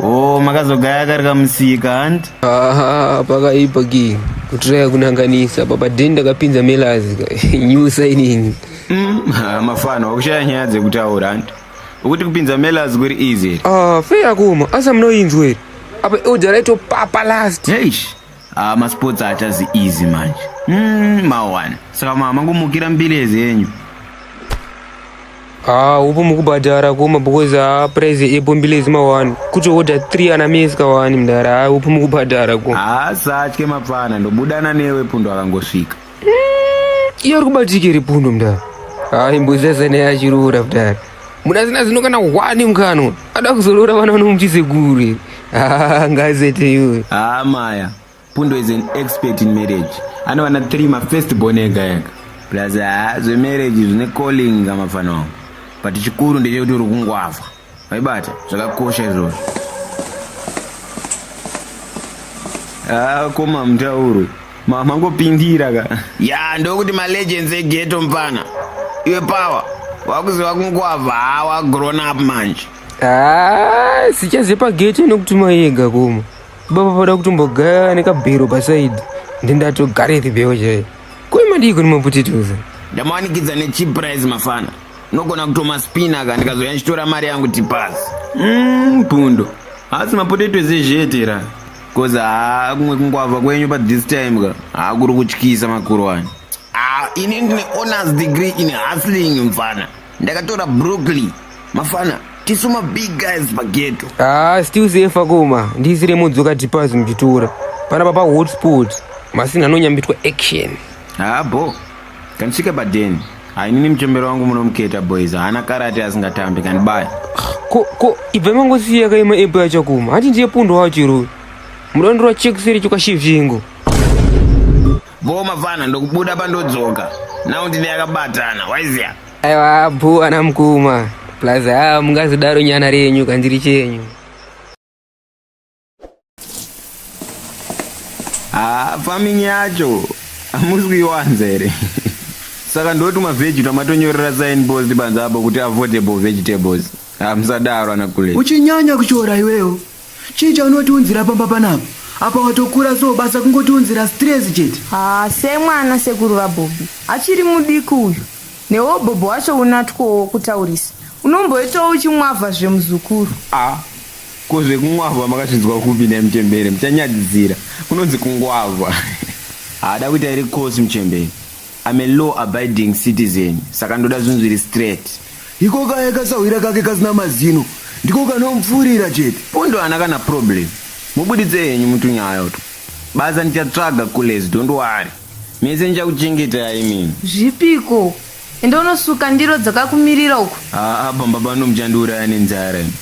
Oh, makazogaya kari kamusika hanti? Aha, pakaipa ki. Kutiraya kunanganisa baba den ndakapinza melazi ka. New signing. Mm, mafano wakushaya nyaya dzekutaura hanti? Ukuti kupinza Mellers kuri easy here? Ah, fe yakoma, asi amunoinzwa here? Apa elder raitopapa last. Eish. Ah, masports achazi easy manje. Mm, mawana. Saka mama kumukira mbilezi yenyu. Ah, upo mukubhadhara koma because ah price epo mbilezi mawani. Kuti order 3 ana meska wani mdara. Ah, upo mukubhadhara koma. Haasatye mapfana ndobudana newe pundo akangosvika. Mm, iyo ari kubatike ripundo mdara hayi mbozese neya achiroora mdara muna zina zino kana hwani mkano ada kuzoroora vana vanomuchisekuru ah, ngazete iyoyo haa ah, maya pundo is an expert in marriage anovana three mafirst born ega ega plus haa ah, zvemarriage zvine calling kamafana wangu but chikuru ndechekuti uri kungwavha Maibata zvakakosha izvozvo. Ah, koma mtauru. Mama ngopindira ka. Ya ndokuti ma legends e ghetto mpana. Iwe power. Wakuziva kungwava hawa grown up manje. Ah, sichaze pa gate inokutuma yega koma. Baba pada kutombogaya nekabhero pa side. Ndindatogare ribeo chaiyo. Koi madii kuni mapotitoes? Ndamawanikidza ne cheap price mafana. Nogona kutoma spina ka ndikazouya ndichitora mari yangu tipas. Mm, pundo. Asi mapotato ese zvete ra. Cause haa kumwe kungwavha kwenyu pa this time ka. Haa kuri kutyisa makurwani. Ah, ini ndine honors degree in hustling mfana. Ndakatora Brooklyn. Mafana, tisu ma big guys pageto. Ah, still safe koma. Ndisire mudzoka tipas muchitora. Pana papa hotspot. Masina anonyambitwa action. Haa bo. Kanisvika paden hainini muchembero wangu munomuketa boys haana karate asingatambi kanibaya ko ko ibva mangosiya kaima epo yachakuma hanti ndiye pundo wacho iroyo mudondora chekuseri chokwashivhingo boo mavana ndokubuda pandodzoka nau ndine yakabatana waiziya aiwa bho ana mukoma plus haa mungazidaro nyana renyu kandiri chenyu Ah, farming yacho hamusi kuiwanza here saka ndoti mavheji twamatonyorera sign post panze apo kuti avoidable vegetables hamusadaro ana kule uchinyanya kushora iwewo chii chaunotiunzira pamba panapa apa watokura so basa kungotiunzira stress chete haa semwana sekuru vabhobhi achiri mudiki uyu newo bhobho wacho unatwowo kutaurisa unomboitawo uchimwavha zvemuzukuru a Ko zvekungwavha makazvinzwa kupi nhai mchembere muchanyadzisira kunonzi kungwavha. Haa dakuita iri course mchembere I'm a law abiding citizen saka ndoda zvinhu zviri straight. Iko kaye kasahwira kake kasina mazino ndiko kanomupfuurira chete. Pundu haana kana problem mubuditse henyu mutunyaya utwo basa ndichatsvaga kulez don't worry mese ndichakuchengetai imimi. Zvipi ikoko Enda unosuka ndiro dzakakumirira uko. Haa pamba pano muchandiuraya nenzara imi.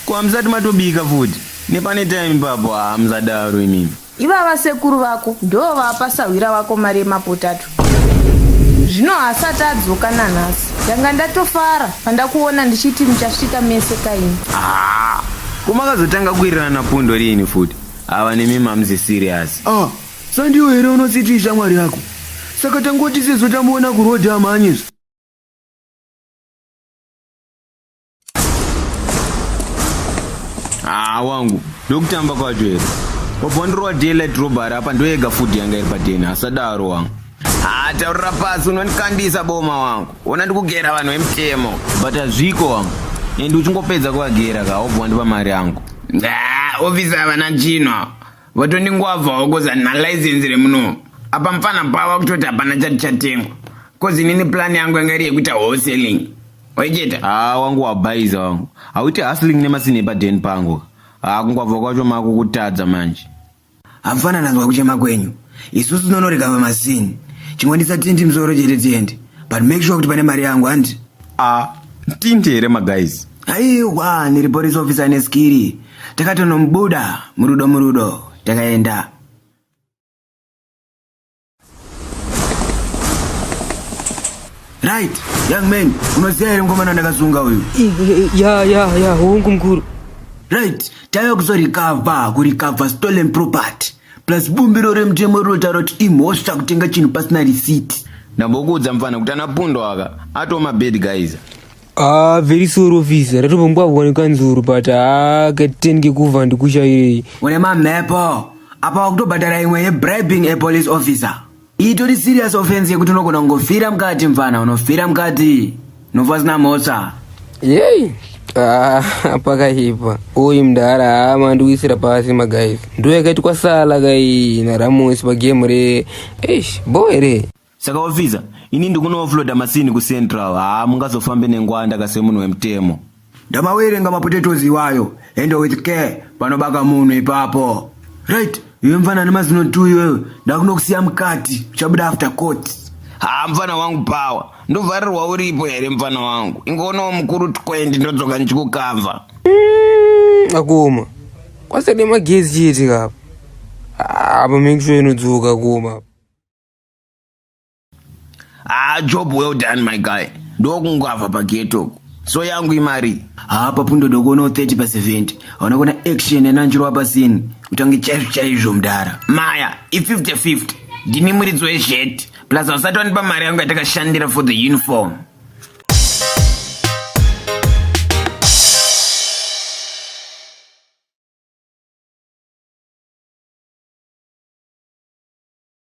Ko hamusati matobika futi? Nepane time ipapo haa musadaro imimi. Ivava sekuru vako ndoo vapa sahwira wako mari yemapotato. Zvino haasati adzoka nanhasi. Ndanga ndatofara pandakuona ndichiti muchasvika mese kaimi. Haa ko makazotanga kuwirirana pundo riini futi? Ava nemimi hamuzi serious. Ah Sa ndiyo here unotsiti ishamwari yako? Saka tangoti sezvo tamuona kuroad amhanyezve. Haa wangu, ndokutamba kwacho here? Wabva wandirova daylight robbery apa ndoyega food yanga iri padeni, asadaro wangu. Haa taurira pasi unondikandisa boma wangu. Ona ndikugera vanhu vemutemo. But hazviko wangu. And uchingopedza kuvagera ka, wabva wandipa mari yangu. Nah, officer havana chinhu awa. vatondingwavhawo kozi handina license remuno apa mfana pava kutoti hapana chati chatengwa kozi inini plan yangu yanga iri yekuita wholesaling waiketa haa ah, wangu wabhaiza wangu hauite hustling nemasini epaden pangu haa ah, kungwavha kwacho mako kutadza manje hamfana nanzwa kuchema kwenyu isusu tinonorega pamasini chingondisa tinti msoro chete tiende but make sure kuti pane mari yangu handi a ah, tinti here maguys aiwa ndiri police officer neskiri takatonomubuda murudo murudo takaenda right young man unoziva here mukomana ndakazunga uyu ya ya ya hongu mukuru right taiva kuzorikavha kurikavha stolen property plus bumbiro remutemo rinotaura kuti imhosva kutenga chinhu pasina risiti ndambokuudza mfana kuti anapundwa aka atoma bed guys Ah, very sorry officer. Ratombwa wani kanzuru but ah keten ke kuva ndikusha iri. Une mamhepo. Apa wakutobhadhara imwe ye bribing a police officer. Itori serious offense yekuti unogona kungofira mukati mfana unofira mukati. Nofa sina mhosva. Yey. Ah, pakaipa. Oyi mdara ama ah, ndikuisira pasi ma guys. Ndo yakaitwa sala kai na Ramos pa game re. Eish, boy re. Saka officer, ini ndikuno offloader masini ku central, haa mungazofambe nengwanda ka semunhu wemutemo. Ndamawerenga mapotatoes iwayo, handle with care, panobaka munhu ipapo. Right, iwe mfana ane mazino two iwewe, ndakunokusiya mukati, uchabuda after court. Haa mfana wangu power, ndovharirwa uripo here mfana wangu, ingoonawo mukuru 20 ndodzoka ndichikukavha. Mm, akuma, kwasade magezi chete kapa. Apa make sure inodzoka kuma. ah job well done my guy ndokungwavha pageto so yangu imari haa papundo dokono 30 pa 70 hauna kuona action enanjiro wapasini utange chaizvo chaizvo mdara maya i50 50 ndini muridzi wezhet plus hausati wanipa mari yangu yatakashandira for the uniform